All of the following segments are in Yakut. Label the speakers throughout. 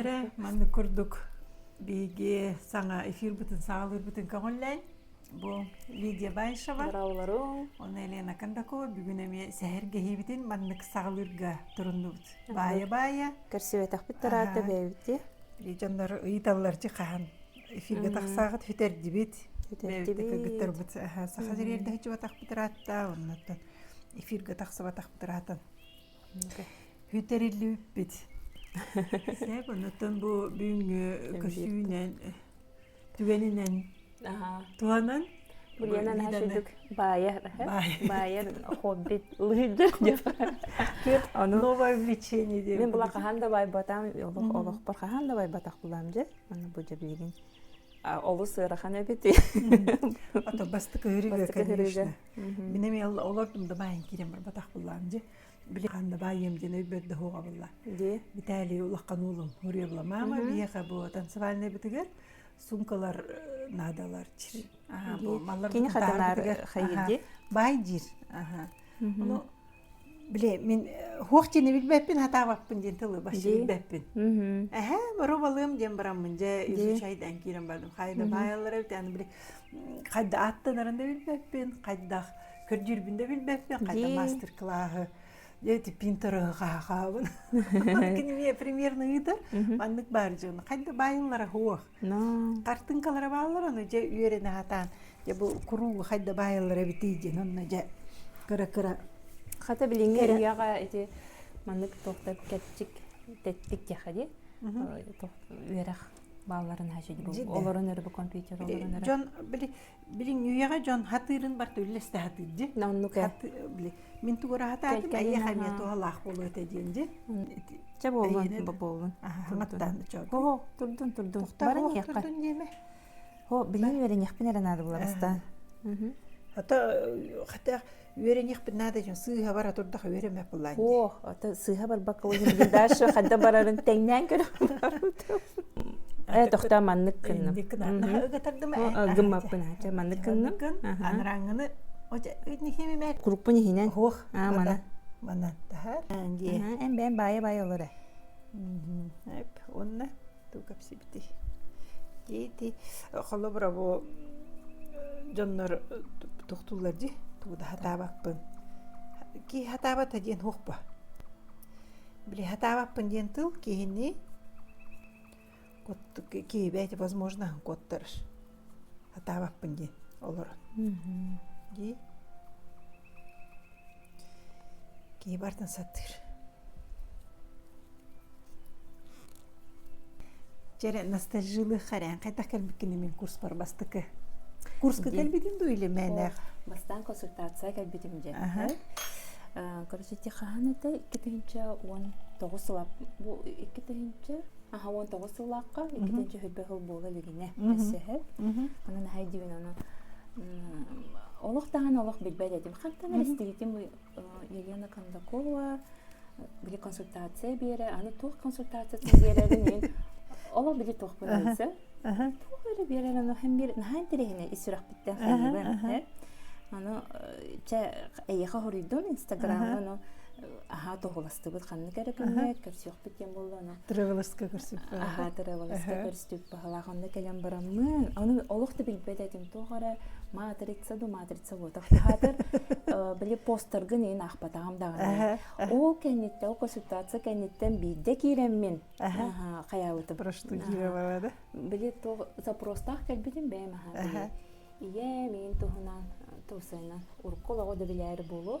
Speaker 1: эрэ маннык курдук биһиги саҥа эфирбытын саҕалыырбытын көҥүллээн бу Лидия Баишева онно
Speaker 2: Елена
Speaker 1: Кондакова бүгүн эмиэ сэһэргэһиибитин маннык саҕалыырга туруннубут баайа-баайа көрсүбэтэхпит
Speaker 2: тараата бэйэбит ди дьоннор
Speaker 1: ыйыталларчы хаһан эфиргэ тахсаҕыт бүтэрдибит бэйэбитин саха сириэрдэһи чуотахпыт ыраатта оннуттан эфиргэ тахсыбатахпыт ыраатан Бүтэриллибиппит. Сээп оннуттан бу бүгүҥҥү көсүүнэн, түгэнинэн туһанан Ульяна
Speaker 2: наһаа баайар баайар хоббит лыйдыр дип
Speaker 1: новое влечение дип мен була хаһан да байбатам
Speaker 2: олохпор хаһан да байбатах булам же аны бу же билигин олус ыарахан эбит ото
Speaker 1: бастык ыһырыга конечно Мин эмиэ олор дабайын киирэн барбатах буллаам дьи. Били ханна баайым диэн өйбөр да хуга булла. Дии. Битаали
Speaker 2: улахан
Speaker 1: уулум уруйа була мама биэха бу танцевальный бытыгар сумкалар наадалар чир. Аха бу маллар кини хатанар
Speaker 2: хайыди. Бай диир.
Speaker 1: Аха. Ону Били мин хуох диэни билбэппин хатаабаппын диэн тылы башта билбэппин. Эһэ боробалыам диэн бараммын дьэ изучайдан киирэн бардым хайда баайаллара аны били хайда ааттанарын да билбэппин хайдах көрдүүрбүн да билбэппин хайда мастер классы дьэ ити пинтеры хаахаабын кини эмиэ примерно ыытар маннык баар дьон хайда баайыллара хуох картынкалара бааллар аны дьэ үөрэнэ хатаан Дьэ бу куруугу хайда баайаллар эбитий диэн онно дьэ кыра-кыра Хата
Speaker 2: билиҥҥи Кэрэ. үйэҕэ ити маннык тохтоп кэрчик тэттик диэхэ дии. Үөрэх баалларын хаачыйдыбы. Дьиде. Олорон өрө компьютер олорон өрө. Дьон били
Speaker 1: билиҥҥи үйэҕэ дьон хатыырын барта үллэстэ хатыыр дьи. Намнук э.
Speaker 2: били мин
Speaker 1: тугура хатаатым эйиэхэ эмиэ туһалаах буолуо этэ диэн дьи. Чэ
Speaker 2: буоллун боллун. Аһаҥаттаан
Speaker 1: чоо. Кого турдун турдун.
Speaker 2: Барын диэххэ.
Speaker 1: Турдун диэме. О,
Speaker 2: билин үөрэниэхпин эрэ наадабылаҕыста. Ата
Speaker 1: хата үөрэниэхпин наада дьон сыыһабар атурдах үөрэмэ пылаан. О, ата сыыһа
Speaker 2: барбаккалыын дальше хайда барарын тэҥнээн көрө Э тохта маннык кынным. Инник кынам. Ыга тардым. Гыммаппын ача маннык кынным. Анраңыны
Speaker 1: Оте нихеми мә. Куруппун ихинен. Ох.
Speaker 2: А мана. Мана. Таһар.
Speaker 1: Ди. Эн бен
Speaker 2: бая бая оларе.
Speaker 1: Эп онна. туу кэпсибити дии холобура бу дьоннор тохтууллар дии тугу да сатаабаппын ки сатаабата диэн уохпа били сатаабаппын диэн тыл киһини киһибэти возможно куоттарар сатаабаппын дии олорон дии киһи бартын сатыыр дьэрэ ностальжилы харян хайдах кэлбиккин мин курспар бастыкы курска кэлбитим дуу или мээнээх бастаан консультация
Speaker 2: кэлбитим дьэ короче ти хаһан это икки тыһыынча он тоҕус сыла бу икки тыһыынча аха уон тоҕус сыллаахха иккитинчи сүрбэ сыл буола илигинэ эсэһэ анан аһай дивин ону олох даҕаны олох билбэт этим хантан эрэ истигитим Елена Кондакова били консультация биэрэ аны туох консультациятын биэрэрин мен олох били туохпун ылса туох эрэ биэрэр ону һәм бир наһаа интэриэһинэ ис сүрөхпиттэн саныыбын аны чэ эйиэхэ хоруйдун инстаграмҥа ону аһаа тоһуластыбыт ханнык эрэ күннэр көрсүөхпүт диэн буоллаҕына тырабыласка көрсүппүт
Speaker 1: аһаа тырабыласка
Speaker 2: көрсүппүт баһылаах онно кэлэн бараммын аны олох да билбэт этим туох эрэ матрица да матрица буотах таһаатар били постергын иин аахпатаҕым даҕаны ол кэнниттэн ол консультация кэнниттэн биирдэ киирэммин хаyaабытым проштудировала да
Speaker 1: били
Speaker 2: запростаах кэлбитим бэйэм аhaa ийэ миин туһунан тылсайынан урукку олоҕу да билээри буолуо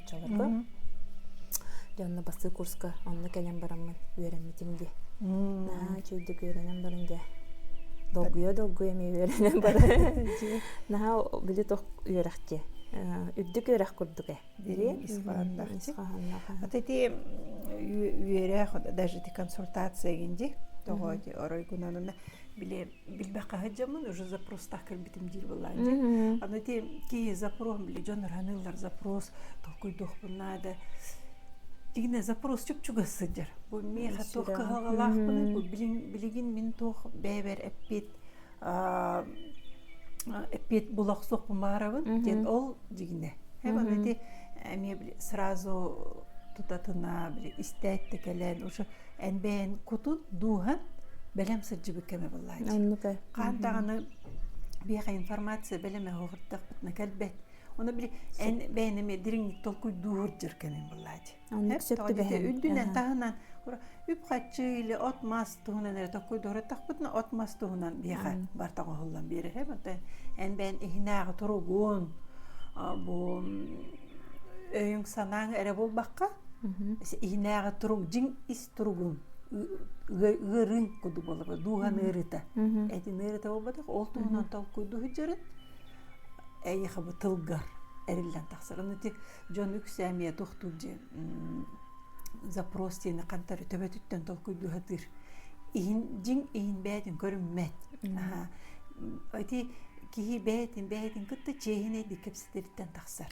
Speaker 2: оччолорго дьэ онно бастыы курска онно кэлэн бараммын үөрэммитим дии наа үчүгэйдик үөрэнэн баран дьэ долгуйа долгуйа эмиэ үөрэнэн баран наһаа били туох үөрэхтиэ үрдүк үөрэх курдук ээ вот
Speaker 1: эти үөрэх даже консультация гинди тоҕо оройгунанына били билбэххаһыт дьоммун уже запростах көрбүтүм диир былаан дии аны ти кии запром били дьон ырһаныыллар запрос толкуйдуохпун наада тигине запрос чупчугас сыддьар бу миэхэ туох кыһалҕалаахпыный бу билигин мин туох бэйбэр эппиэт эппиэт була охсуохпун баарабын диэн ол дигине эми сразу тутатына истээт кэлэн уже эн бэйэн кутун дууһан бэлэм сылдьыбыт кэмэ буоллааччы хаан даҕаны биэхэ информация бэлэмэ хоһурдахпытына кэлбэт оны били эн бэйэн эмиэ дириҥник толкуйдуур дьыр кэмин буллаачы үрдүнэн таһынан үп-хаччы или от мас туһунан эрэ толкуйдуураттахпытына от мас туһунан биэхэ бартаҕоһуллан биэрэһэ бата эн бэйэн иһинээҕи туругун бу өйүҥ санааҥ эрэ булбакка Иһинээҕи турук дьиҥ ис туругун ыарыын курдук буолла дууһан ыарыыта этин ыарыыта буолбатах ол туһунан толкуйдуу сылдьарын эйиэхэ бу тылга эриллэн тахсарын ити дьон үксэ эмиэ тохтуур дьиэ запрос диэни хантары төбөтүттэн толкуйдуу сатыыр иһин дьиҥ иһин бэйэтин көрүммэт ити киһи бэйэтин бэйэтин кытта чиэһинэйдик кэпсэтириттэн тахсар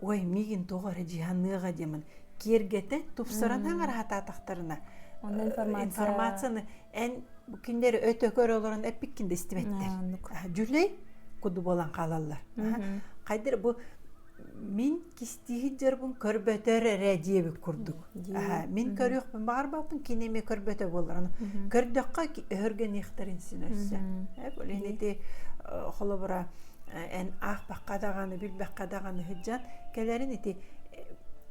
Speaker 1: ой миигин тоҕо эрэ дьиһаныаҕа диэмин киэргэтэ тупсаран аҥараһатаатахтарына онно информацияны эн кинилэр өтө көрө олорон эппиккин да истибэттэр дьүлэй куду буолан хаалаллар хайдыр бу мин кистииһит дьарбын көрбөтөр эрэ диэбит курдук мин көрүөхпүн баарбалтын киними көрбөтө буоллар көрдөххө өһөргөниэхтэрин син өссө болин ити холобура эн аахпакка даҕаны билбэккэ даҕаны сыдьан кэлэрин ити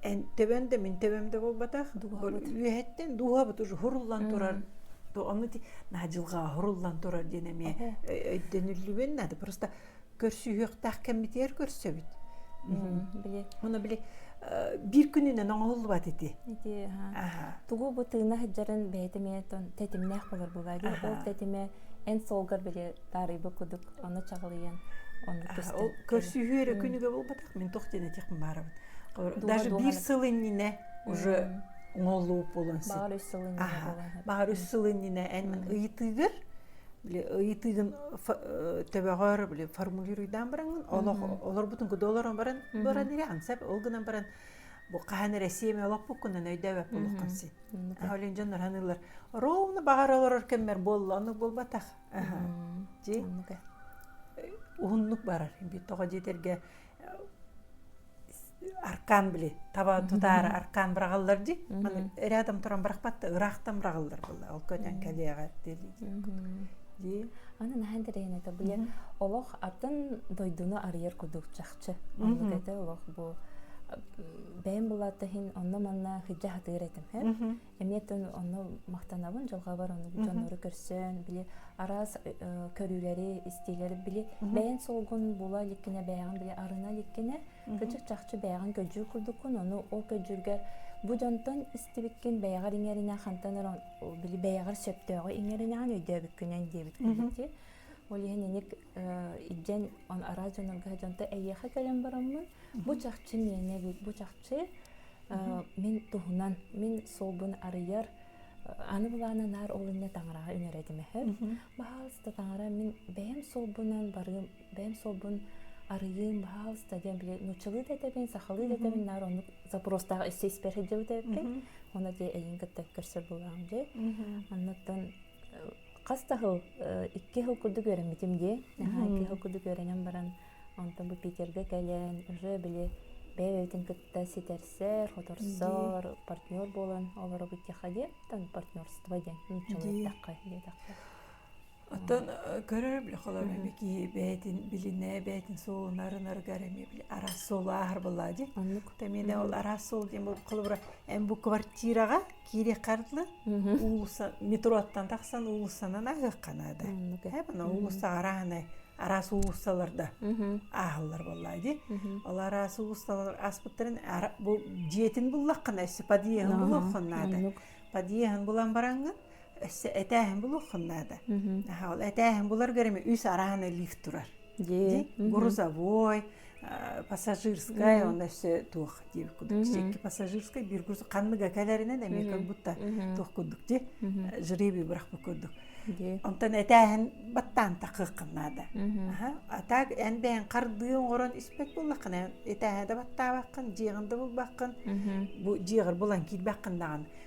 Speaker 1: эн төбөн да мин төбөм да буолбатах үөһэттэн дууһабыт уже хуруллан турар то ону дьылҕаҕа хуруллан турар диэн эмиэ өйдөнүллүбүн надо просто көрсүһүөхтээх кэммитигэр көрсөбүт ону били биир күнүнэн оҥоһуллубат ити
Speaker 2: тугу бу тыына сылдьарын бэйэтэ эмиэ тэтимнээх болор бува диэн ол тэтимэ эн солгар били таарыйбы кудук ону чаҕылыйан ол көрсүһүү эрэ
Speaker 1: күнүгэ буолбатах мин тох диэн этиэхпин баарабын даже биир сыл иннинэ уже оҥоллубут буолан син баҕар үс сыл иннинэ
Speaker 2: баҕар үс сыл иннинэ
Speaker 1: эн ыйытыыгар били ыйытыыгын төбөҕөр били формулируйдаан бараҥҥын олох олорбутун курдук олорон баран баран ири аңсап ол гынан баран бу хаһан эрэ сиэмэ олоппуккунан өйдөөбөт буолуоххун син олин дьоннор саныыллар ровно баҕар олорор кэммэр буолла оннук буолбатах дии уһуннук барар тоҕо дьиэтэргэ аркан били таба тутаары аркан бырагаллар ди маны рядом туран бырахпат да ыраахтан бырагаллар була ол көтөн кэлиэҕэ ди аны наһан
Speaker 2: тэрэйэн этэ быйан олох атын дойдуну арыйар курдук чахчы оннук этэ олох бу бэйэм булааттаһин онно манна хыддя хатыыр этим эмиэ тыл онно махтанабын дьылҕабар ону дьоннору көрсөн били араас көрүүлэри истиилэри били бэйэн солгун була иликкинэ бэйэҕин били арына иликкинэ кырдьык чахчы бэйэҕин көдьүүр курдуккун ону ол көдьүүргэр бу дьонтон истибиккин бэйэҕэр иҥэринэ хантан эрэ били бэйэҕэр сөптөөҕү иҥэринэҕин өйдөөбүккүнэн диэбит киһи ол иһин эник идден он араас дьоннорго дьонто эйиэхэ кэлэн бараммын бу чахчы миэнэбит бу чахчы мин туһунан мин суолбун арыйар аны былаана наар ол иннэ таҥараҕа үнэрэтимэһэр баһаалыста таҥара мин бэйэм суолбунан барыым бэйэм суолбун арыйыым баһаалыста диэн били нуччалыы да этэбин сахалыы да этэбин наар оннук запростаах эссе испэрхэддьэбит эппин оны дьэ эйин кытта көрсөр булаам дьэ оннуттан хас да сыл икки сыл курдук үөрэммитим дии наһаа икки сыл курдук үөрэнэн баран онтон бу питергэ кэлэн уже били бэйэбитин кытта ситэрсэр хоторсор партнер буолан олоробутдиэхэ дии оттон партнерство диэн нууччалыы эттэххэ диэтэххэ оттон
Speaker 1: көрөр били холом эми кии бэйэтин билинэ бэйэтин суолунарынаргар эми били араас суолу ааһар буоллаа дии оннук тэмиэнэ ол араас суол диэн кылыбыра эм бу квартираҕа кирихарlı уулусса метроттан тахсан уулуссанан агыхханада эбана уулусса араанай араас уулуссаларда аахыллар болла ди ол араас уулуссалар аспыттарын бу дьиэтин буллаххына эссе подъеһын булохханнаада подъеһын булан бараңгын этээһин булохханнаада ол этээһин булар гереме үс араана лифт турар грузовой пассажирскай онно өссө туох диир курдук всякий пассажирскай бир груз ханныга кэлэринен эмиэ кырбутта туох курдук ти жреби бырахпыт курдук онтон этээһин баттаан такыаккын наада а так эн бэйэн хардыы оҥорон испэт буоллаххына этээһэ да баттаабаккын дьиэҕин да булбаккын бу дьиэҕэр булан киирбэккин даҕаны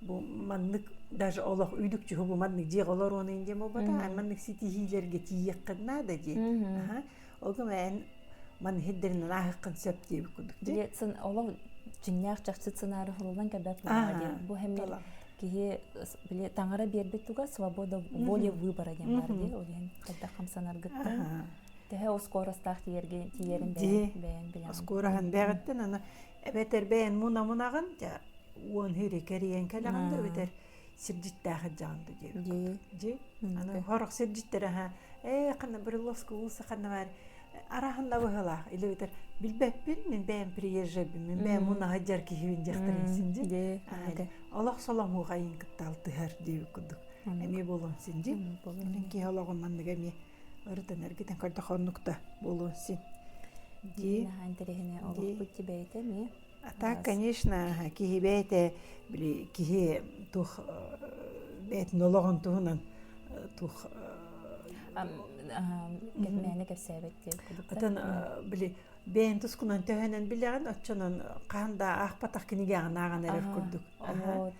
Speaker 1: бу маннык даже олох үйдүк чуһу бу маннык дьиэ олоруон инде буолбата маннык ситиһиилэргэ тиийиэххин наада дии олгом эн маны хиддеринен аахыккын сөп диэбит курдук дии олох
Speaker 2: дьиҥнээх чахчы сценарийһыллан кэбэп бу хэммэ киһи били таҥара биэрбит туга свобода воля выбора диэн бар дии ол иһин хайдах хамсанаргыттан тэһэ оскуорастаах тиерген тиерин бэйэн бэйэн оскуораһын бэҕэттен
Speaker 1: ана эбэтэр бэйэн мунамунаҕын дьэ уон хири кэрийэн кэлэҕин да эбэтэр сирдьиттээх дьаҕын да диэбит дии дии аны хорох сирдьиттэр аха ээ ханна брелоска улса ханна бар араһын набыһылаах или битэр билбэппин мин бэйэм приезжэбин мин бэйэм мунаһа дьар киһибин дьахтарын син дии олох соломуха ин кыттал тыһар диэбит курдук эмиэ болон син дии киһи олоҕун манныга эмиэ ырытан эргитэн көрдөх оннук да буолуон син дии
Speaker 2: интэриэһинэй олохпут тибэйэтэ ми а так конечно
Speaker 1: киһи бэйэтэ били киһи туох бэйэтин олоҕун туһунан туох
Speaker 2: мээнэ кэпсээбэт атын
Speaker 1: били бэйэн тускунан төһөнөн билэҕин оччонон хаан да аахпатах кинигэ анаҕан эрэр курдук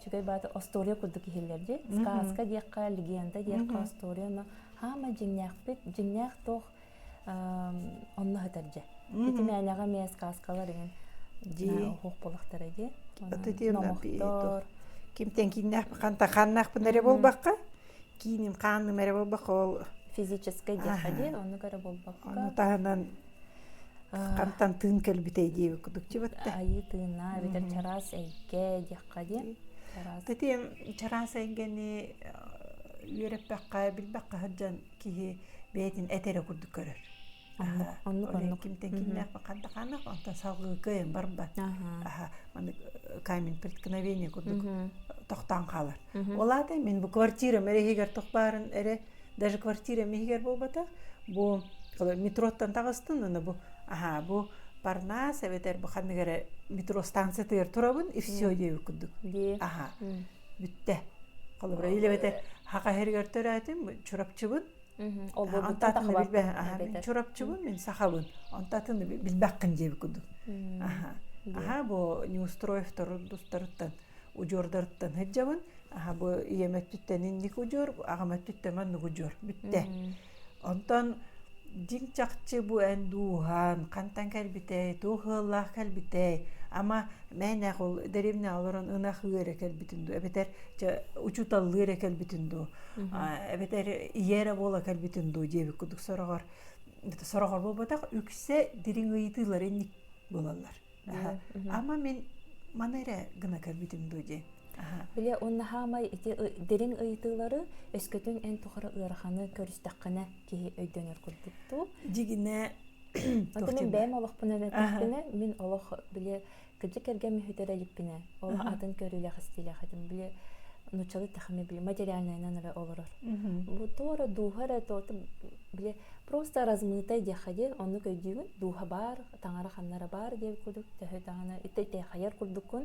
Speaker 2: үчүгэй баата остуоруйа курдук иһиллэр дии сказка диэххэ легенда диэххэ остуоруйа но хаама дьиҥнээхпит дьиҥнээх туох онно сытар дьэ ити мээнэҕэ эмиэ сказкалар иҥин оһох болахтара дии номохтор кимтен
Speaker 1: кииннээх ханта ханнаахпын эрэ буолбакка кииним хаанным эрэ буолбакка ол физическэй диэххэ
Speaker 2: диэн онну көрө буолбакка ону таһынан
Speaker 1: хантан тыын кэлбитэй диэби кудук дьыбатта айыы тыына эбэтэр
Speaker 2: чараас эйгэ диэххэ диэн тэтиэм
Speaker 1: чараас эйгэни үөрэппэххэ билбэххэ сылдьан киһи бэйэтин этэрэ курдук көрөр оннук оннук кимтэн кимнээх хантахаанах онтон салгыы кыайан барбат маннык камень преткновения курдук тохтоон хаалар ол аата мин бу квартира мэр иһигэр тох баарын эрэ даже квартира эми иһигэр буолбатах бу метроттан таҕыстын аны бу аха бу парнас эбэтэр бу ханнык эрэ метро станциятыгар турабын и все диэбит курдук аха бүтте холобура илебете хақаһырыгар төраатым чурапчыбын чурапчыбын мен сахабын онтатын билбаккын диэбит курдук аха аха бу неустроев тордустарыттан удьуордарыттан һыджабын аһабы ийэм өттүттэн инникудьуор аҕам өттүттэн маннугудьуор бүтте онтон дьиҥ чахчы бу эн дууһан хантан кэлбитэй туох ыаллаах кэлбитэй ама мээнээх ол дэриэбинэ олорон ынах ыыра кэлбитин дуу эбэтэр чэ учуталлыы эрэ кэлбитин дуу эбэтэр ийэ эрэ буола кэлбитин дуу диэбит курдук сороҕор сороҕор буолбатах үксэ дириҥ ыйытыылар инник буолаллар Ама мен маны эрэ гына көрбүтүм дуу дии. Бile онна
Speaker 2: хаамай ити дириҥ ыйытыылары өскөтүн эн тухары ыараханы көрүстэххинэ киһи
Speaker 1: өйдөнөр
Speaker 2: курдуктуу. Дигине Атынын бэйэм олохпунан эттэхпинэ, мин олох бile кыдьы кэргем үһүтэр элиппине, олох атын көрүүлэх истилэх этим. Бile нучалы тахами бile материальнайынан эрэ олорор. Бу туора дууһа эрэ туота бile просто размытай диэхэ диэн оннук өйдүүгүн дууһа баар, таҥара ханнара баар диэн курдук төһө даҕаны хайар курдуккун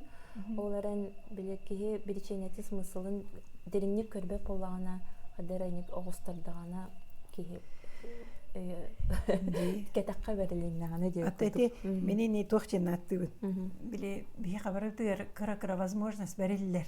Speaker 2: ол эрэн били киһи биричиинэтин смыслын дириҥник көрбөт буоллаҕына адырайник оҕустардаҕына киһи кэтэххэ бэрилиннэҕинэ диэн курдук мин ини
Speaker 1: туох диэн ааттыыбын били биһи хабарытыгар кыра кыра возможность бэриллэр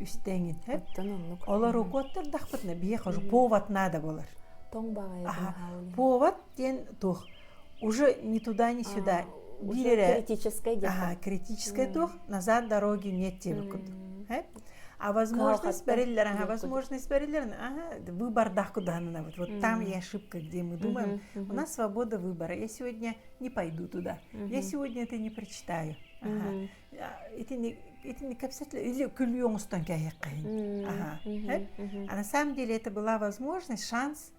Speaker 1: үстээҥин олор укуоттар дахпытына биэха уже повод надо болар тоң
Speaker 2: баҕайы повод диэн
Speaker 1: туох уже ни туда ни сюда критической критической туох назад дороги нет диэбит курдук а возможность бэриллер ага возможность бэриллер выбордах кудананабыт вот там и ошибка где мы думаем у нас свобода выбора я сегодня не пойду туда я сегодня это не прочитаю итини итини кэпсэтиле или күлүү оҥостон кээһиэххэһин аха а на самом деле это была возможность шанс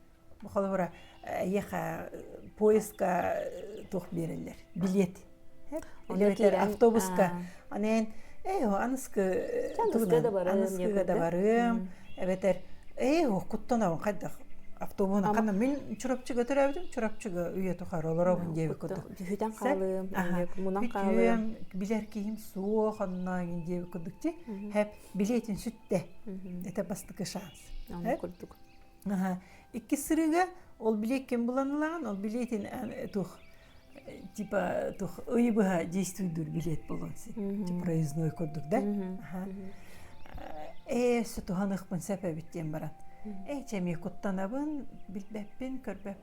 Speaker 1: холобура эйиэхэ поиска туох биэрэллэр билет автобуска анен эйо аныскы аныскыга да барым эбэтэр эйо куттан аван хайдах автобуна ханна мин чурапчыга төрөөбүтүм чурапчыга үйэ тухары олоробун диэби курдук Дьүһүтэн хаалыым,
Speaker 2: мунан хаалыам. Билэр
Speaker 1: киһим суох онно диэбит курдук ти. Хэп билетин сүтте. Это бастыкы шанс. Аны курдук. Икки сырыга ол билет кем буланылаған, ол билетин тух типа тух ой быха действуйдур билет болон син ти проездной курдук да. Э су туханыкпын сәпәбит тем баран. Э чәме куттанабын, билбеппин, көрбеппин.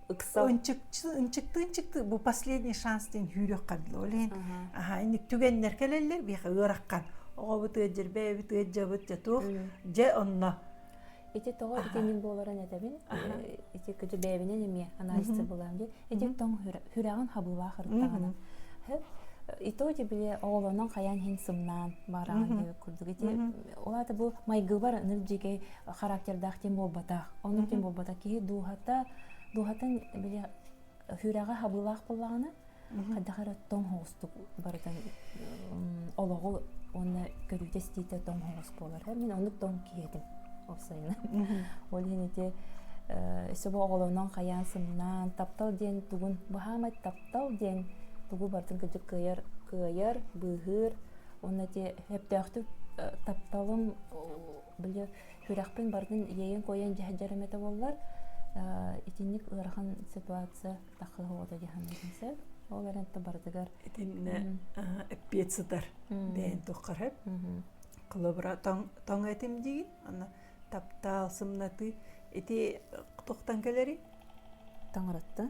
Speaker 1: ыкса ынчыктыы ынчыктыы бу последний шанс диэн сүүрүөххэ дылы ол иһин аха инник түгэннэр кэлэллэр биэхэ ыараххан оҕобут ыаддьыр бэйэбит ыаддьабыт дьэ туох дьэ онно ити тоҕо
Speaker 2: итинин буоларын этэбин ити кыдьы бэйэбинен эмиэ анализцы булам ди эти тоң хүрэҕин хабыылаах ыртаҕынан итоди биле оҕолонон хаян һин сымнаан бараан курдук ити олата бу майгыбар нырдьиге характердаах тем буолбатах ону тем буолбатах киһи дууһата дууһатын били хүрэҕэ хабыылаах буоллаҕына хайдах эрэ тоҥ хоҕустук барытын олоҕу уонна көрүүтэ истиитэ тоҥ хоҕус буолар мин оннук тоҥ киһи этим уопсайынан ол иһин ити өссө бу оҕолонон хайаан сымнаан таптал диэн тугун баһаамай таптал диэн тугу барытын кырдьык кыайар кыайар быыһыыр уонна ити сөптөөхтүк тапталым быйы сүрэхпин бардын иэйэн-куойан дьэһдьэрим этэ буоллар итинник ыарахан ситуация тахсыһоҕото дьаһанабын сөп ол эрэн то барытыгар итиннэ
Speaker 1: эппиэт сытар бэйэн туххарһып холобура тоҥ этим диин аны таптаал сымнатыы ити тухтан кэлэри таҥараттан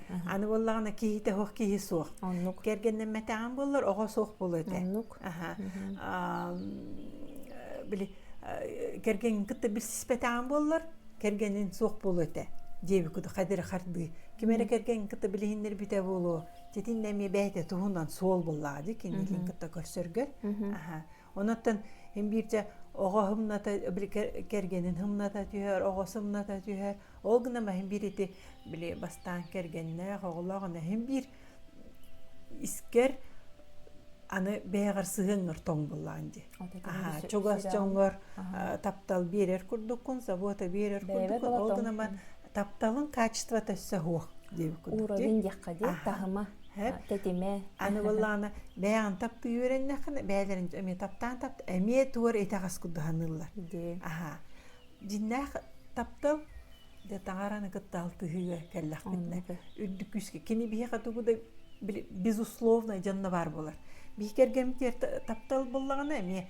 Speaker 2: Аны буоллаҕына
Speaker 1: киһитэ суох киһи суох. Оннук. Кэргэннэммэтэҕин буоллар оҕо суох буолуо этэ. Оннук. Аха. Били кэргэҥҥин кытта билсиспэтэҕин буоллар кэргэнин суох буолуо этэ. Диэби куду хадыр хардыы. Ким эрэ кэргэн кытта билиһиннэрбитэ буолуо. Титин эмиэ бэйэтэ туһунан суол буллаҕа дии кинилин кытта көрсөргөр. Аха. Онуттан им биирдэ оҕо humната били кэргэнин humната түһэр, оҕо humната түһэр. Ол гына маһын биир ити били бастаан кэргэннээх, оҕолоох эһим биир искэр аны бэйэҕэр сыһыаҥҥар тоҥуллаан дии. Аһаа, чугас дьоҥҥор таптал биэрэр курдуккун, забота биэрэр курдуккун. Ол гынан баран тапталын качествота өссө суох уурабын диэххэ дии
Speaker 2: таһыма тэтимэ аны буоллаҕына
Speaker 1: бэйэҕин таптыы үөрэннэххинэ бэйэлэрин эмиэ таптаан таптаа эмиэ туор итэҕэс курдуһаныллар аха дьиннээх таптал да таҥараны кытта алтыһыыга кэллэхпитинэ үрдүк күүскэ кини биһиэхэ тугу да безусловно дьонно баар буолар биһи кэргэмтиэр таптал буллаҕына эмиэ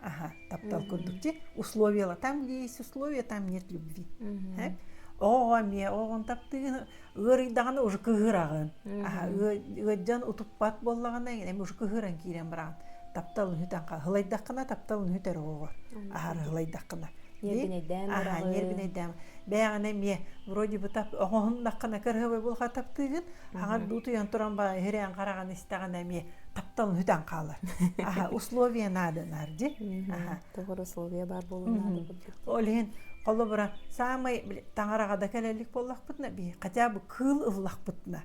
Speaker 1: ага таптал курдук ти условия там где есть условия там нет любви оҕоҕо эмиэ оҕоҕун таптыын ыарыйдаҕына уже кыһыраҕын ыаддьан утуппат буоллаҕына эм уже кыһыран киирэн быраҕан таптал үһүтэнха һылайдаххына таптал үһүтэр оҕоҕор аһар һылайдаххына нервинайдаама бэйэҕин эмиэ вроде бы тап оҕоһун даххына кырыһыбы булха таптыыгын аҕар дуутуйан туран ба иһирээн хараҕын истэҕин эмиэ таптал үһүтэн хаалар условия наада наар ди тоҕо
Speaker 2: условия баар буолуо ол иһин
Speaker 1: холобура саамай таҥараҕада кэлэлик буоллахпытына би хотя бы кыыл ыллахпытына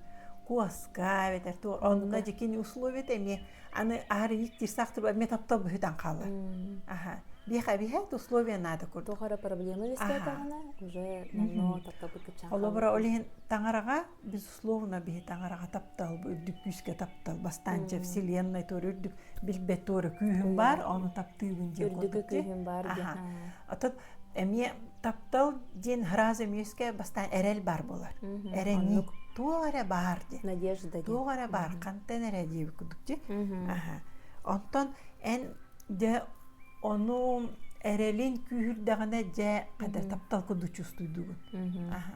Speaker 1: куоска эбэтэр онно дикини условията эмиэ аны ары иктирсах турба эмиэ таптал быһытан хаалар аха биха бихает условия надо курдук тоҕо эрэ проблема үстэ даҕана
Speaker 2: уже намного тапталбыт кыччан холобура ол иһин
Speaker 1: таҥараҕа словно биһи таҥараҕа таптал бу үрдүк күүскэ таптал бастаан чэ вселенной туора үрдүк билбэт туора күүһүм баар ону таптыыбын диэн курдук
Speaker 2: отут
Speaker 1: эмиэ таптал диэн раз эмиэскэ бастаан эрэл баар болар эрэни туох эрэ баар диэн надежда туох эрэ
Speaker 2: баар хантан
Speaker 1: эрэ диэбит курдук дии аха онтон эн дьэ ону эрэлин күүһүрдэҕинэ дьэ кадыр таптал курдук чувствуйдугун аха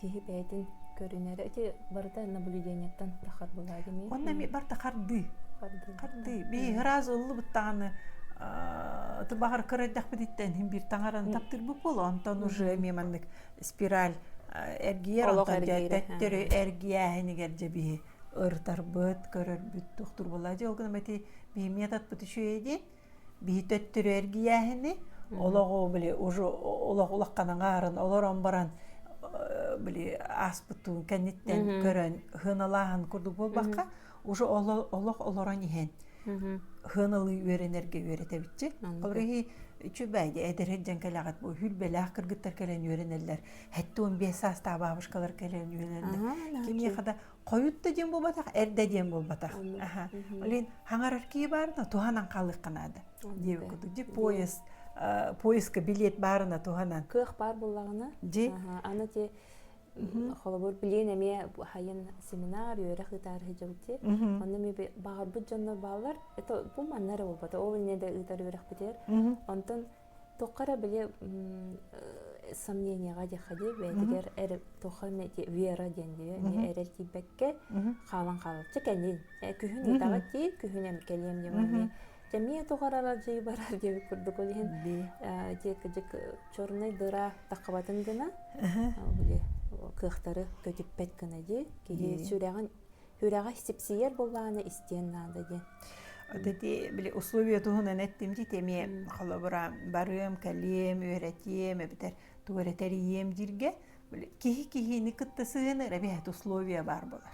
Speaker 2: киһи бэйэтин көрүнэрэ ити барыта наблюденияттан тахар бывает имеет онно эми бар да хардыы
Speaker 1: хардыы бии ыраас ыллыбыт даҕаны ты баһар кырайдахпыт иттен хин бир таҥаран таптырбыт буол онтон уже эми маннык спираль эргиер онтон төттөрү эргиээһинигэр дьэбиһи ыртарбыт көрөрбүт тухтур была дьылгыным эти бихимиятатпыт үшүөйди Бии төттөрү эргийээһини, олоҕу били уже олох улаххан аҥаарын олорон баран били ааспыттын кэнниттэн көрөн хыаналааһын курдук буолбакка, уже олох олорон иһэн хыаналыы үөрэнэргэ үөрэтэбитчи. Ол иһи үчүбээди эдэр дьэн кэлэҕит бу хүлбэлээх кыргыттар кэлэн үөрэнэллэр. Хэтти он бес саастаах бабушкалар кэлэн үөрэнэллэр. Кимиэхэ да хойут да диэн буолбатах эрдэ диэн буолбатах аха блин хаҥарар киһи баарына туһанан хаалыахха наада диэбит куту ди поезд поезка билет баарына туһанан кыах баар буллаҕына
Speaker 2: ди аны
Speaker 1: те
Speaker 2: холобур билиэн эмиэ хайын семинар үөрэх ыытаары сылдьабыт онно ми баҕарбыт дьоннор бааллар это бу манна эрэ буолбата ол иннэ да ыытар үөрэх битэр онтон Тоққа эрэ били сомнениеҕа диэххэ бэйэтигэр эр тоққа вера диэн диэ эрэл тиийбэккэ хаалан хаалаччы кэлин күһүн ыытаҕа дии күһүн эм кэлиэм диэм аны эмиэ тоҕарарар дьиэ барар диэбит курдук ол иһин дьиэ кыдьык чернай дыра таххабатын гына кыахтары көтүппэт гына дии киһи сүрэҕин Үрэҕи сипсийэр буоллааны истиэн наада диэн. От эти
Speaker 1: били условия туһунан эттим дит эми холобура барыам, кэлием, үөрэтием, эбитэр тугу эрэтэрием дирге киһи киһини кытта сыһыныр эбэт условия бар болар.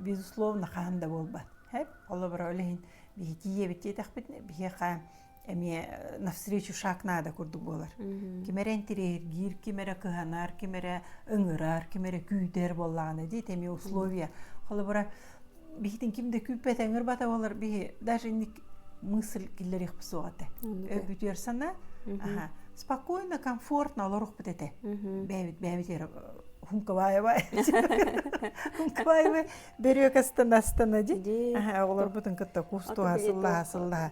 Speaker 1: Безусловно хаан да буолбат. Хэп холобура олехин биһитиебит диэтэхпит биһиэха эмиэ навстречу шаг наада курдук буолар. Ким эрэ интириэһиргиир, ким эрэ кыһанар, ким эрэ ыҥырар, ким эрэ күүтэр буоллаҕына дии, эмиэ условия. Холобура, биһитин ким да күүппэт ыҥырбата болар биһи даже мысль киллэриэхпит суох этэ. Өбүтүөр санаа, аха, спокойно, комфортно олоруохпут этэ. Бэйбит бэйбит эрэ хункабаева хункабаева бөрүөк астана астана ди оҕолорбутун
Speaker 2: кытта
Speaker 1: кустуха сыллаха сыллаха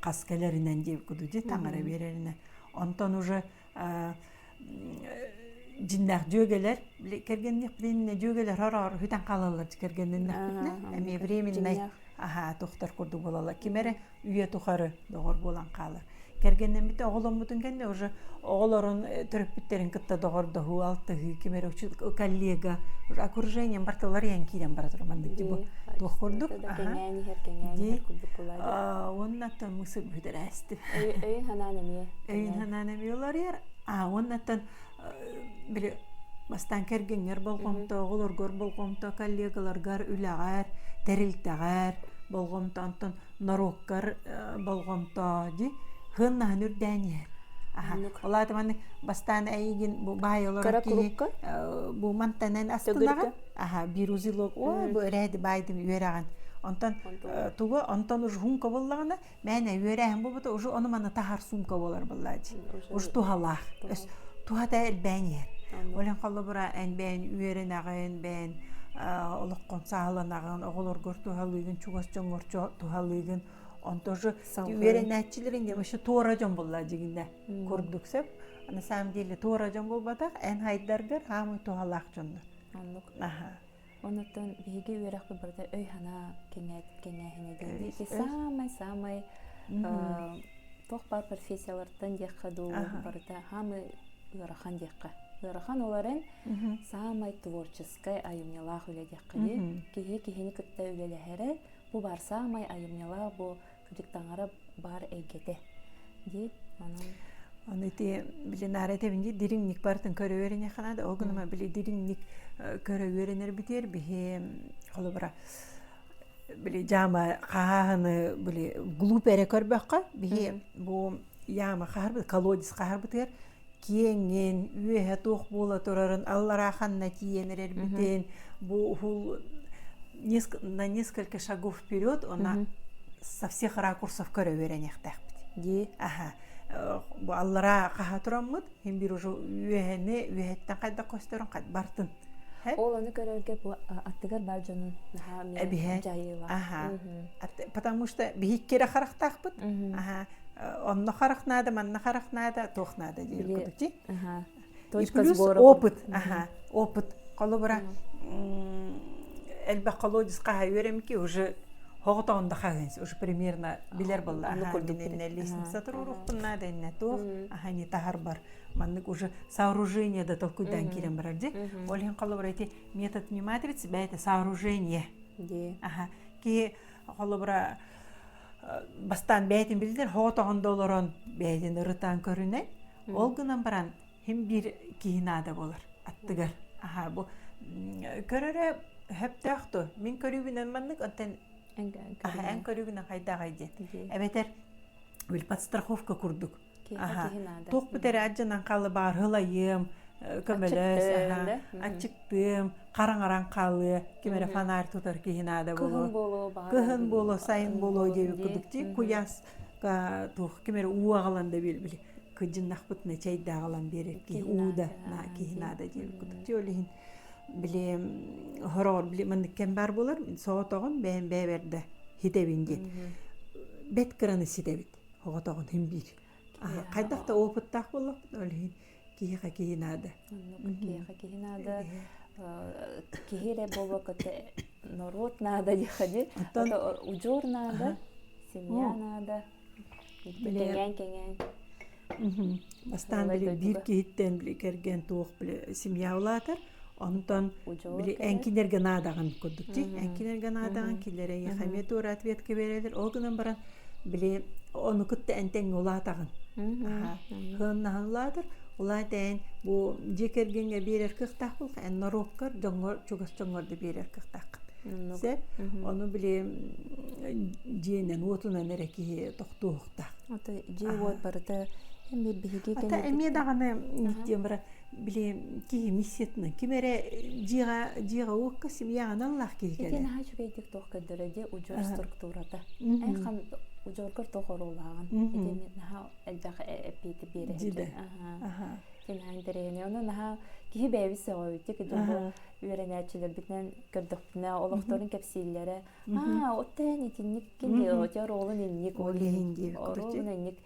Speaker 1: хас кэлэринэн куду ди таңара биэрэринэ онтон уже дьиннээх дьүөгэлэр кэргэнник племенно дьүөгэлэр хороору хүтэн халаллар кэргениннэ эмиэ временнай аха тохтор курдук болала ким эрэ үйэ тухары доҕор буолан хаалар кэргеннэммит оҕоломмутун кэннэ уже Оҕолорун төрөппүттэрин кытта доҕордоһуу, алтыһыы, ким эрэ коллега уже окружением бартыларыйан киирэн бара турар маннык дии бу туох курдук кэҥээн иһэр кэҥээн иһэр курдук булаайда уонна аттан мыксыр бүтэрэсти өйүн санаан эмиэ өйүн санаан эмиэ уларыйар а уоннаттан били бастаан кэргэнгер болҕомто оҕолоргор болҕомто коллегаларгар үлэҕэр тэрилтэҕэр болҕомто онтон норуоккар болҕомтоди хыыннаһын үрдээн иһэр олаатыманы бастаан эйигин бу баай олорор киһи бу мантанан астынаҕын аха биир узелок о бу өрээди баайдым үөрэҕин онтон тугу онтон уже сумка буллаҕына мээнэ үөрээһин бубута уже ону маны таһар сумка болар буллаачи уже туһалаах тухата элбээн иһэр олен холобура эн бээн үөрэнэҕин бээн олох сааланаҕын оҕолоргор туһалыыгын чугас дьоҥҥор туһалыыгын онтон же үөрэнээччилэрин вообще туора дьон булла дигинэ курдук сөп на самом деле туора дьон булбатах эн хайдаргар хаамый туһалаах дьоннор оннук онуттан
Speaker 2: биһиги үөрэхпит барыта өй-санаа кэҥээһинэ диэн самай самай туох баар профессиялартан диэххэ дуу барыта хаамы ыарахан диэххэ ыарахан олорын саамай творчество айымньылаах үлэ диэххиний киһи киһини кытта үлэлэһэрэ бу баар саамай айымньылаах бу күдьүк таҥара баар эйгэтэ дии манан
Speaker 1: аны ити билин ары этэбинди дириҥник бартын көрө үөрэнэ ханада ол гыныма били дириҥник көрө үөрэнэр бүтүөр биһи холобура били жаама хаһаһыны били глуп эрэ көрбөххө биһи бу яма хаһарбыт колодец хаһарбытыгар киэҥин, үөһэ туох буола турарын аллараханна тиийэн эрэрбитин, бу уһул на несколько шагов вперед она со всех ракурсов көрө үөрэниэхтээхпит дии аха бу аллараа хаһа тураммыт хин бир уже үөһэни үөһэттэн хайда көстөрүн хат бартын ол ону
Speaker 2: көрөргө бу аттыгар бар дьонун наһаа эбиһэ дьайыыла аха
Speaker 1: потому что биһиккире харахтаахпыт аха онно харах наада манна харах наада туох наада диир
Speaker 2: кутучи опыт
Speaker 1: опыт холобура элбэх колодец хаһа үөремки уже хоҕотоонда хаһыыс уже примерно билер болла лестница туруурукпун наада инне туох ахани таһарбар маннык уже сооружение да толкуйдан кирен барар ди олин холобура эти метод внимательницы бэйте сооружение аха ки холобура бастаан бэйэтин биллэр хоотоҕон да олорон бэйэтин ырытаан көрүнэн ол гынан баран хим биир киһи наада буолар аттыгар аха бу көрөрө сөптөөх ту мин көрүүбүнэн маннык онтон эн көрүүгүнэн хайдааҕай диэн эбэтэр страховка курдук туох бүтэрээт дьынан халыбаарылайым көмөлөс аччыктым хараҥаран хаалыа ким эрэ фонарь тутар киһи наада буолуо кыһын буолуо сайын буолуо диэбит кудукти куяска туох ким эрэ уу аҕалан да билбили кыдьыннахпытына чэйдээх аҕалан биэрэр киһи уда на киһи наада диэбит кудукти ол иһин били хороҕор били манныккэн баар буолар соотоҕун бэйэм бэйэ берде хитэбин диет бэт кыраны ситэбит оҕотоҕун иһин биир хайдах да опыттаах буоллахпыт ол иһин киһиэхэ киһи наада киһиэхэ киһи наада
Speaker 2: киһи эрэ буола көтө норуот наада диэхэ оттон удьуор наада семья наада кэҥээн кэҥээн бастаан били
Speaker 1: биир киһиттэн били кэргэн туох били семья улаатар Онтон били эҥкилерге наадаҕын курдук ти эҥкилерге наадаҕын килере ехаме туор ответке берелер ол гынан баран били ону кытта энтең улаатаҕын хыаннаһаллаатар улаатаан бу дьиэ кэргэҥҥэ биэрэр кыахтаах булка эн норуоккар дьоҥҥор чугас дьоҥҥорду биэрэр кыахтааххын сэ ону били дьиэнэн уотунан эрэ киһи тохтуохтаах дьиэ
Speaker 2: уот барыта эмиэ биһиги эмиэ даҕаны
Speaker 1: диэн бара биле киһи миссиятынан ким эрэ дьиэҕэ дьиэҕэ уокка семьяҕаналлаах киһи кэлэ. Итин аһа үчүгэйдик
Speaker 2: туох
Speaker 1: көрдөрө
Speaker 2: де удьуор структурата. Айхан удьуоргар туох оруолааҕын. Итин наһаа элбэх эппиэти биэрэ илдьэ. Аха. Синаһын тэрийэни. Ону наһаа киһи бэйэбит сөҕөбүттик итин үөрэнээччилэрбитинэн көрдөхпүтүнэ олохторун кэпсииллэрэ аа отто эн итинник ким оти оруолун инник оруолун инник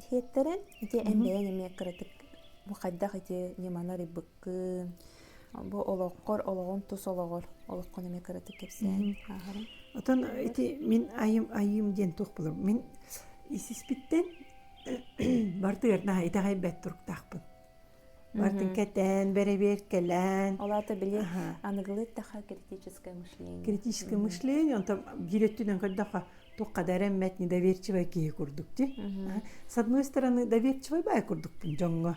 Speaker 2: Иһиэттэрин ити эн бэйэн эмиэ кыратык бу хайдах ити ньыманы арыйбыккын, бу олоххор, олоҕун тус олоҕор олоххун эмиэ кыратык кэпсээн ааһарым. Оттон
Speaker 1: ити мин айым айым диэн туох болор мин исиспиттэн бартыгар наһаа итэҕэйбэт туруктаахпын. Мартын кэтээн, бэрэбиэркэлээн. Ол аата били
Speaker 2: аныгылыт таха критическое мышление. Критическое мышление,
Speaker 1: онтон биир өттүнэн көрдөххө, туохха да эрэммэт, недоверчивай киһи курдук дии. С одной стороны, доверчивый бай курдукпун дьоҥҥо.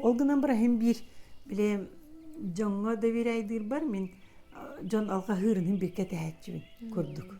Speaker 1: Ол гынан быраһым биир, били дьоҥҥо доверяйдыырбар мин дьон алҕаһыырын иһин бир кэтэһээччибин курдук.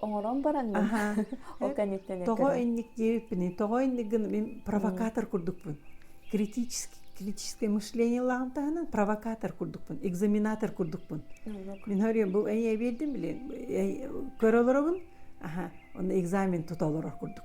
Speaker 2: оҥорон баран мин ол кэнниттэн тоҕо инник
Speaker 1: диэбиппиний тоҕо иннигин мин провокатор курдукпун критический критическое мышлениелаах таһынан провокатор курдукпун экзаменатор курдукпун мин арыйа бу эйэ биэрдим билин көрө олоробун аха онно экзамен тута олорор курдук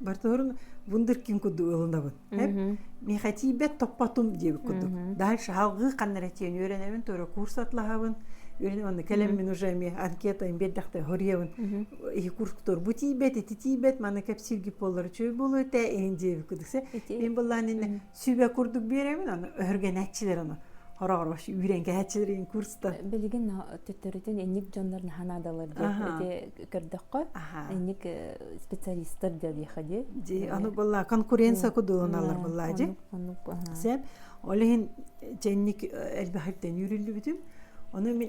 Speaker 1: Бартырын вундеркин курдук ылынабын. Миха тиийбэт топпотум диэбит курдук. Дальше халгы ханнарэтиен үөрэнэбин, тура курс атлаһабын. Үөрэнэ онно кэлэммин уже ми анкетаем бердахта хорьебын. И курс турбу тиийбэт, ити тиийбэт, маны кэпсииргит боллар чөй болу этэ, эйин диэбит курдук. Мен быллан инне Сүбэ курдук биэрэбин аны өһүргэнээччилэр ону хороҕор вообще үүрэн кээччилэр иин курстан билигин
Speaker 2: төттөрүтүн инник дьоннор наһаа наадалар диэн көрдөххө инник специалистар диэхэ дии дии аны былла
Speaker 1: конкуренция кудулуналар былла дии сеп ол иһин жэнник элбэхиртен үүрүллүбүтүм ону мин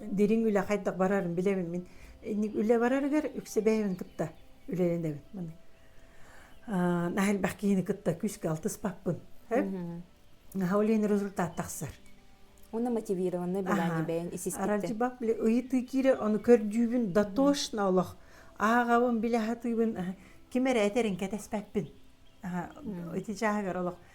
Speaker 1: дириҥ үлэ хайдах барарын билэбин мин инник үлэ барарыгар үксэ бэйэбин кытта үлэлэнэбин маны наһаа элбэх киһини кытта күүскэ алтыспаппын сөп наһаа үлэни результат тахсар Уна
Speaker 2: мотивированное былание бэйэҥ исискитте. Араджибап биле ыйытыы
Speaker 1: киирэ ону көрдүүбүн дотошно олох ааҕабын билэ сатыыбын ким эрэ этерин кэтэспэппин ити жаагар олох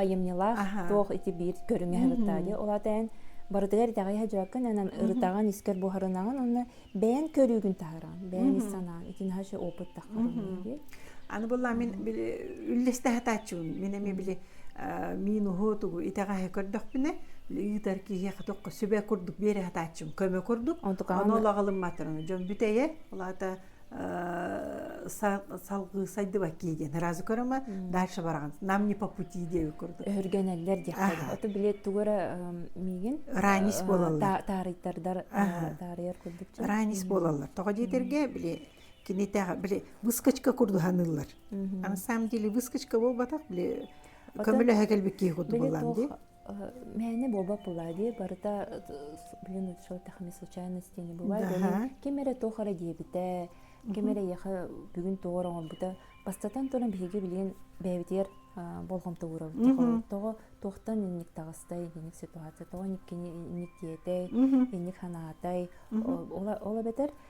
Speaker 2: айымньылаах туох ити биир көрүҥэ ырыта диэ ол аатын барытыгар итэҕэйэ дьүөккөн анан ырытаҕын искэр буһарынаҕын онно бэйэн көрүүгүн таһараҕын бэйэн ис санааҕын итин хашы опыт таххарыҥ диир аны булла
Speaker 1: мин били үллэстэһэ тааччыбын мин эми били мин уһу тугу итэҕэһэ көрдөхпүнэ ыытар киһиэхэ tokko сүбэ курдук биэрэһэ тааччым көмө курдук ону олаҕылымматырын дьон бүтэйэ олаата салгыы сайдыбат кии диэн разу көрөмө дальше бараҕын нам не по пути диэби курдук өргөнөллөр диэхтэрэ
Speaker 2: оту билет тугура миигин ранись буолаллар
Speaker 1: таарыйтардар
Speaker 2: таарыйар курдук ранись буолаллар
Speaker 1: тоҕо диэтерге били кинитэҕэ били выскочка курдуһаныллар на самом деле выскочка буолбатах били көмөлөһө кэлбит киһи курдук буллам ди Мээнэ буоба
Speaker 2: пулади барыта блин шелтах эмиэ случайность диэни бывает ким эрэ туох эрэ диэбитэ ким эрэ эйиэхэ бүгүн тоҕор оҥорбута бастатан туран биһиги билигин бэйэбитигэр болҕомтобуурабыт тоҕо туохтан инник таҕыстай инник ситуация тоҕо инник инник диэтэй инник санаатай ол эбэтэр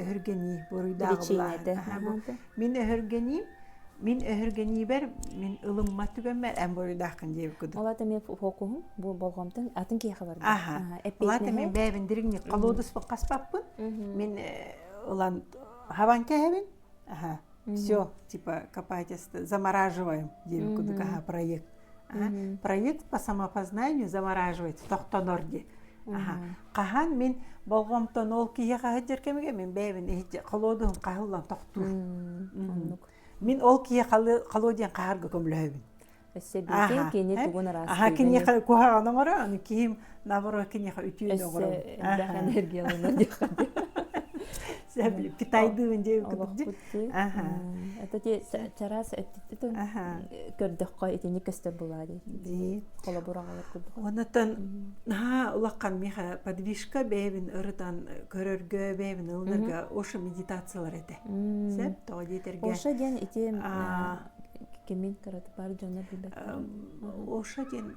Speaker 1: өһүргэнии буруйдааҕы былааһын мин өһүргэниим мин өһүргэниибэр мин ылымма түбэммэр эн буруйдааххын диэбит кудук олата мен фокуһум
Speaker 2: бу болҕомтон атын киэхэ барбын аха олата мен
Speaker 1: бэйэбин дириҥник қалуодуспун хаспаппын мин ылан хабан кэһэбин аха все типа копательство замораживаем диэбит кудук аха проект проект по самопознанию замораживать тохтонор ди хаһан мин болҕомтону ол киһиэхэ сылдьар кэмигэр мин бэйэбин холодуһун хаһыллан тохтуур мин ол киһи холо диэн хаһарга көмөлөһөбүн
Speaker 2: киниэхэ куһаҕан
Speaker 1: оҥоро аны киһим наоборот киниэхэ үтүө доҕорум элбэх энергияланар
Speaker 2: диэххэ
Speaker 1: сөбүлүк китайдыын дии кытык
Speaker 2: это ти чараас эттитин көрдөххө итини көстөр булаа дии холобурагалар курдук онотон
Speaker 1: наһаа улахан миэхэ подвижка бэйэбин ырытан көрөргө бэйэбин ылынарга ошо медитациялар
Speaker 2: этэ
Speaker 1: сөп тоҕо
Speaker 2: диэтергэ
Speaker 1: ошо диэн ити
Speaker 2: кимин кыратыбар дьоно билбэт оша
Speaker 1: диэн